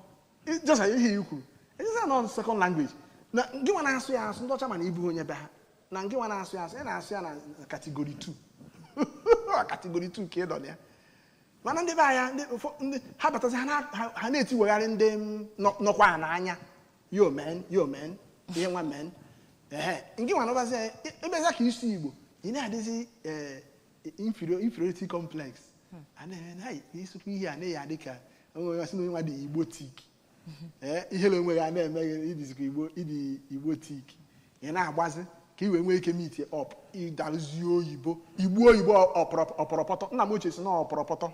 just ihe i kwuru echezia na ọ second language na gị nwa na-asụ ya asụ ndị ọcha ma na ị bụghị onye be ha na gị nwa na-asụ ya asụ ị na-asụ ya na category 2 category 2 ka ị nọ na ya mana ndị be anyị ndị ụfọ- ndị ha batazi ha na- ha- ha na-etiwegharị ndị m nọ- nọkwa ha n'anya yo men yo men ihe nwa men ehe nke nwa nọbazi anyị ị- ị bịazie ka ị sụọ igbo ị na-adịzi eh, inferior- inferiority complex a na-eme na anyị ị sụkwa ihe a na i ya-adị ka onwe onye sị na onye nwa dị Igbotic ee ihere onwe gị a na-eme gị ị dịzikwa igbo ị dị Igbotic ị na-agbazi ka i wee nwee ike meet up ị darụzie oyibo igbu oyibo ọpọrọ- ọpọrọpọtọ nna m ochie sị na ọpọrọpọtọ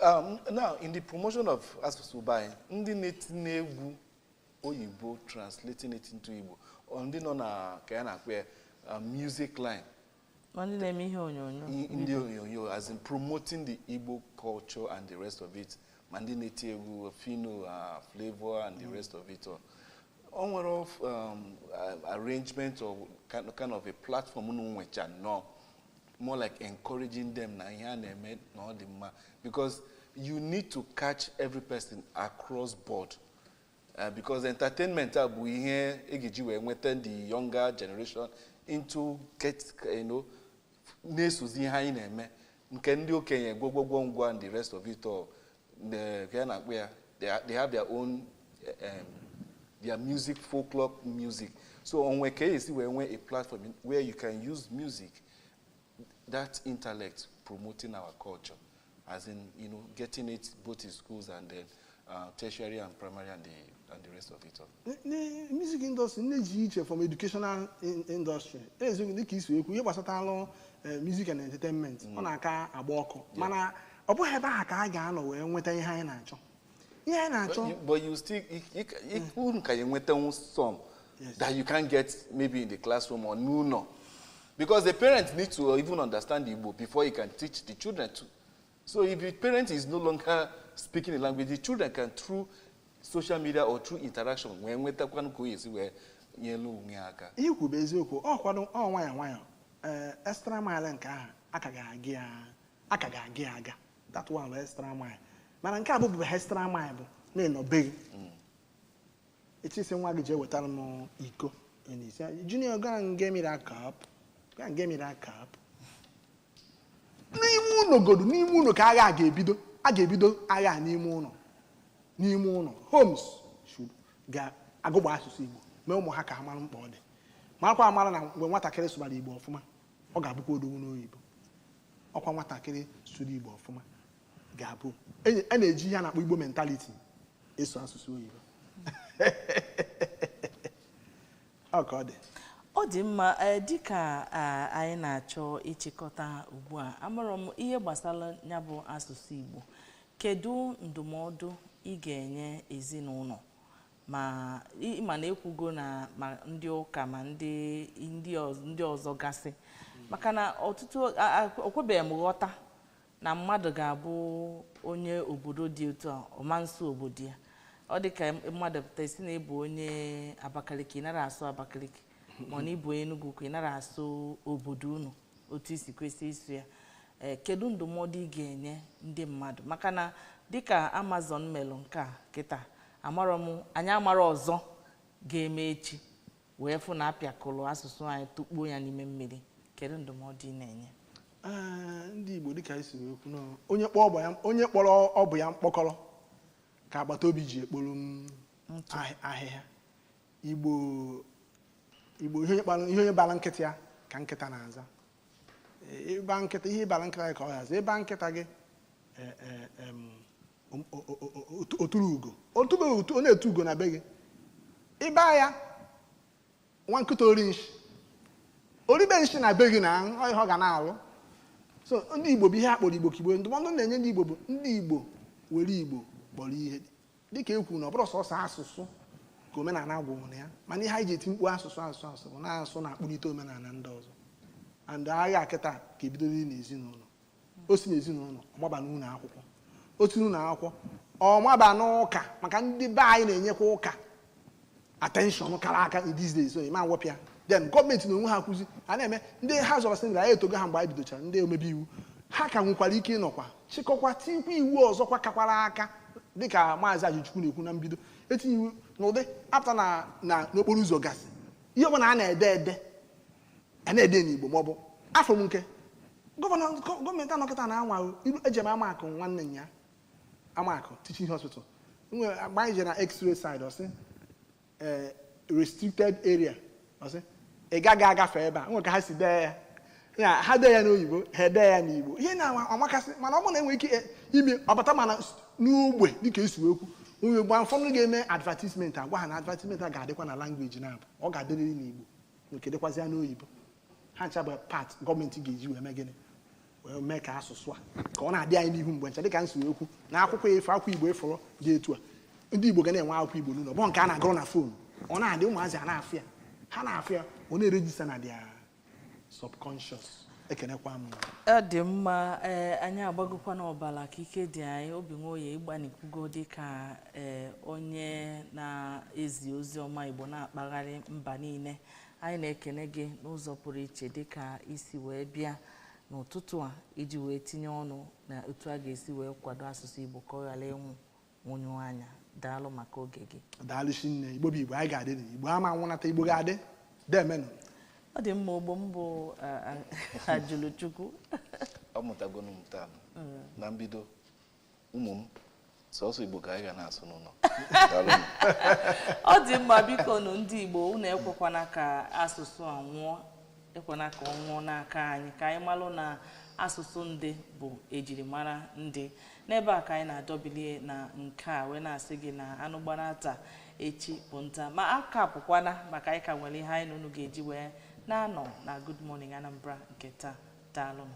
Um, now, in the promotion of asụsụ be anyị, ndị na-etinye egwu oyibo translating it into Igbo, or ndị nọ na ka ya na-akpọ ya uh, music line, ndị na-eme ihe onyonyo ndị onyonyo as in promoting the Igbo culture and the rest of it ma ndị na-eti egwu Phyno uh, Flavour and the mm. rest of it all o nwere um, arrangement or kind of a platform unu nwecha nnọọ more like encouraging them na ihe a na-eme na ọ dị mma because you need to catch every person across board Uh, because entertainment a bụ ihe e ga-eji wee nweta the younger generation into get you know, na-esozi ihe anyị na-eme nke ndị okenye gwogwogwo ngwa and the rest of it all the- ka ya na-akpọ ya they ha- they have their own um, their music folklore music so o nwe ka e si wee nwee a platform where you can use music that intellect promoting our culture as in, you know, getting it both in schools and then uh, tertiary and primary and the, and the rest of it all. The music industry na-adị iche from educational in- industry eziokwu dịka i si ekwu ihe gbasatara eh, music and entertainment mm. ọ na-aka agba ọkụ mana ọ bụghị ebe ahụ ka a ga-anọ wee nweta ihe anyị na-achọ ihe anyị na-achọ But you- but you still you- you ca- you- unu ka ya enwetanwu some that you can't get maybe in the classroom or n'ụlọ because the parents need to even understand Igbo before you can teach the children too so if the parent is no longer speaking the language the children can through social media or through interaction wee nwetakwanụ ka o yesi wee nyelu onwe ya aka ihe i kwuru bụ eziokwu ọ kwado ọ nwayọ nwayọ ee extra mile nke ahụ a ka ga-aga ya a ka ga-aga ya aga that one bụ extra mile mana nke abụghị extra mile bụ na ị nọ be gị ị chọ ịsị nwa gị jee wetara m iko ị na-asị ya, junior go and get me that cup go and get me that cup n'ime ụlọ godu n'ime ụlọ ka agha a ga-ebido a ga-ebido agha a n'ime ụlọ n'ime ụlọ homes should ga-agụgba asụsụ igbo mee ụmụ ha ka ha mara mkpa ọ dị marakwa amara na mgbe nwatakịrị sụbara igbo ọfụma ọ ga-abụkwa odogwu n'oyibo ọkwa nwatakịrị sụrụ igbo ọfụma ga-abụ enyi- a na-eji ihe a na-akpọ igbo mentality eso asụsụ oyibo ọ ka ọ dị ọ dị mma ee, dịka a, anyị na-achọ ịchịkọta ugbu a amụrụ m ihe gbasara ya bụ asụsụ igbo kedu ndụmọdụ ị ga-enye ezinụlọ ma ị ma na e kwugo na ma ndị ụka ma ndị ndị ọz- ndị ọzọ gasị maka na ọtụtụ a- a- okwebeghị m ghọta na mmadụ ga-abụ onye obodo dị otu a ọ ma nsụ obodo ya ọ dị ka mmadụ pụta ị sị na ị bụ onye abakaliki ị nara asụ abakaliki ma ọ na ị bụ onye Enugu ukwu ị nara asụ obodo unu otu i si kwesị ịsụ ya ee kedu ndụmọdụ ị ga-enye ndị mmadụ maka na dịka amazon melụ nke a kịta amarọ m anyị amara ọzọ ga-eme echi wee fụ na a pịakọlụ asụsụ anyị tụkpuo ya n'ime mmiri kedu ndụmọdụ ị na-enye Ee, ndị igbo dịka i si wee kwu na onye kpọọ ọba ya- onye kpọrọ ọba ya mkpọkọrọ ka agbata obi ji ekporo m ahị- ahịhịa igbo igbo ihe onye kpara- ihe onye bara nkịta ya ka nkịta na-aza Ee, ị ba nkịta ihe ị bara nkịta gị ka ọ ga-aza ị ba nkịta gị ee, ee, em, oturu ugo ọ na-etu ugo na be gị ị ba ya nwa nkịta ori nshi o ribe nshi na be gị na ọ ihe ọ ga na-alụ so ndị igbo bụ ihe a kpọrọ igbo ka igbo ndụmọdụ m na-enye ndị igbo bụ ndị igbo were igbo kpọrọ ihe dịka e kwuru na ọ bụrọ sọsọ asụsụ ka omenala gwụrụ na ya mana ihe anyị ji eti mkpu asụsụ asụsụ asụsụ bụ na asụsụ na-akpụlite omenala ndị ọzọ and agha kịta ka e bidozi n'ezinụlọ o si n'ezinụlọ ọ maba n'ụlọ akwụkwọ o si n'ụlọ akwụkwọ ọ maba n'ụka maka ndị be anyị na-enyekwa ụka attention kara aka in these days so ịma wepụ ya then gọọmenti na onwe ha kwụzi a na-eme ndị ha zọrọ sị anyị etogo ha mgbe anyị bidochara ndị omebe iwu ha ka nwekwara ike ịnọkwa chịkọkwa tikwa iwu ọzọkwa kakwara aka dịka maazị Ajụlụchukwu na-ekwu na mbido etie iwu n'ụdị apụta na na n'okporo ụzọ gasị ihe ọbụla a na-ede ede a na-ede n'Igbo ma ọ bụ afụ m nke gọvanọ gọọmenti anọkata na-anwa ilu eje m Amakụ nwanne ya Amakụ teaching hospital nwere agba anyị jere na x-ray side ọ sị eh, restricted area ọ sị ị gaghị agafe ebe a nwere ka ha si dee ya ya ha dee ya n'oyibo ha edee ya n'igbo ihe na amakasị mana ọ bụrụ na enwere ike eh, ime ọbata mana s- n'ogbe dịka esi wee kwu onye gba ụfọdụ ga-eme advertisement agwa ha na advertisement a ga-adịkwa na language n'abụọ ga-adịrịrị n'igbo nke dịkwazịa n'oyibo ha ncha bụ part gọọmenti ga-eji wee mee gịnị wee mee ka asụsụ a ka ọ na-adị anyị n'ihu mgbe ncha dịka n si wee kwu na akwụkwọ ifo akwụkwọ igbo efọrọ dị etu a ndị igbo ga na-enwe akwụkwọ igbo n'ụlọ bụ nke a na-agụrụ na phone ọ na-adị ụmụazị a na-afụ ya ha na-afụ ya ọ na-erejista na their subconscious ekenekwa m ọ dị mma ee anyị agbagokwa n'ọbala ka ike dị anyị obi nwoye ị gbanikwugo dị ka ee onye na-ezi ozi ọma igbo na-akpagharị mba niile anyị na-ekene gị n'ụzọ pụrụ iche dị ka i si wee bịa n'ụtụtụ a iji wee tinye ọnụ na otu a ga-esi wee kwado asụsụ igbo ka ọ ghara ịnwụ nwụnyụọ anya daalụ maka oge gị daalụ shinne igbo bụ igbo anyị ga-adị na igbo ama nwụnata igbo ga-adị deemenụ ọ dị mma ogbo m bụ ajụlụchukwu ọ mụtagonu m taa mm. na mbido ụmụ m sọsọ igbo ka anyị ga na-asụ n'ụlọ ọ dị mma bikonụ ndị igbo unu ekwekwana ka asụsụ a nwụọ ekwena ka ọ nwụọ n'aka anyị ka anyị malụ na asụsụ ndị bụ ejirimara ndị n'ebe a ka anyị na-adọbilie na nke a wee na-asị gị na anụ gbara taa echi bụ nta ma aka apụkwana maka anyị ka nwere ihe anyị na unu ga-eji wee na-anọ na Good Morning Anambra nke taa daalụnụ